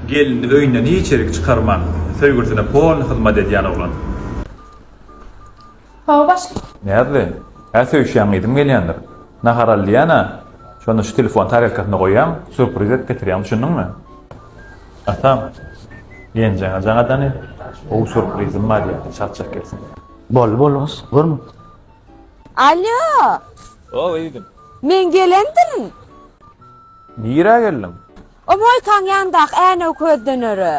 Gelini öýünden hiçirik çykarman, söýgülisine polny hyzmat edýän oglan. Hawa, başga? Näzli, Hä, söýüşýäň diýdim gelýändir. Nahar al diýýän-ä, şonda şu telefony tarelkasyna goýýaň, sýurpriz edip getirýän, düşündiňmi? Atam, Genjeňe jaňadany gowy sýurprizim bar diýýän, çakjak gelsin. Boldy, boldy gyz, görme. Alýo! Ow, egin. Men gelendirin. Nirä geldiň? O moýkaň ýanyndaky änew köz döneri.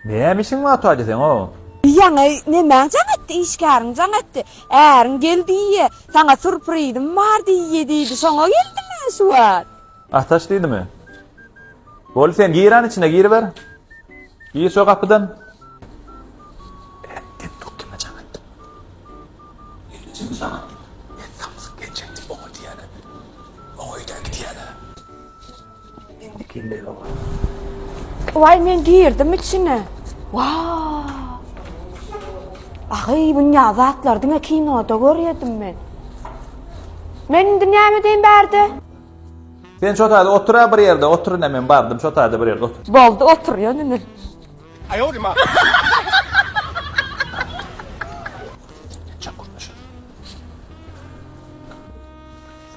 Näme işiň bar Taýja seň-ow? Diýýäň-eý, nemäň jaň etdi, işgäriň jaň etdi. Äriň gel diýýä, saňa surprizim bar diýýä diýdi, şoňa geldim men şu wagt. Ataş diýdimi? Bol sen giran içine giriber. Gir şo gapydan. Äpdin dur kime jaň etdim? Ýeňijeme jaň etdim. Men samsyk genjek diýip oňa diýýäler. Oňa öýdäki diýýäler. Vay men girdim içine. Vaa. Ahy bu ne zatlar diňe kinoda görýedim men. Men indi näme deýin bärde? Sen şu taýda otur bir ýerde, otur ine men bardym şu taýda bir ýerde otur. Boldy otur ýöne indi. Aýodyma.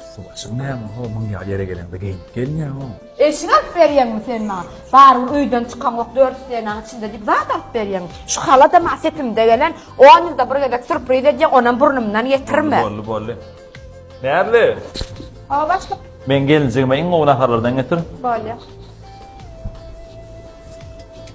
Üsti-başyň näme, ho, muň ýaly ýere geleňde geýnip gelme, ho. Eşik alyp berýäňmi sen maňa? Baryň öýden çykaňok, dört stenaň içinde diýip zat alyp berýäňmi? Şu halat-a maňa sepimde gelen, on ýylda bir gezek sýurpriz edýäň, onam burnumdan getirme. Boldy, boldy. Närli? Hawa, başlyk. Meň gelinjigime iň gowy naharlardan getir. Bolýa.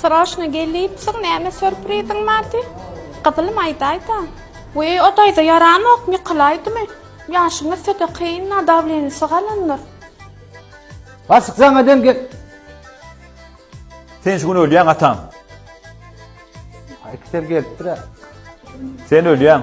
Sroşno gel diýipsiň näme sörpriziň bar diý. Gyzylym aýdaýda. Wiý o daýza ýaranok ýykylaýdymy. Ýaşyňyz söte kynna dawlenisi galandyr. Bassyk saňa deň gel. Sen şu gün ölýäň atam. Aý iki ser gelipdir-ä. Sen ölýäň.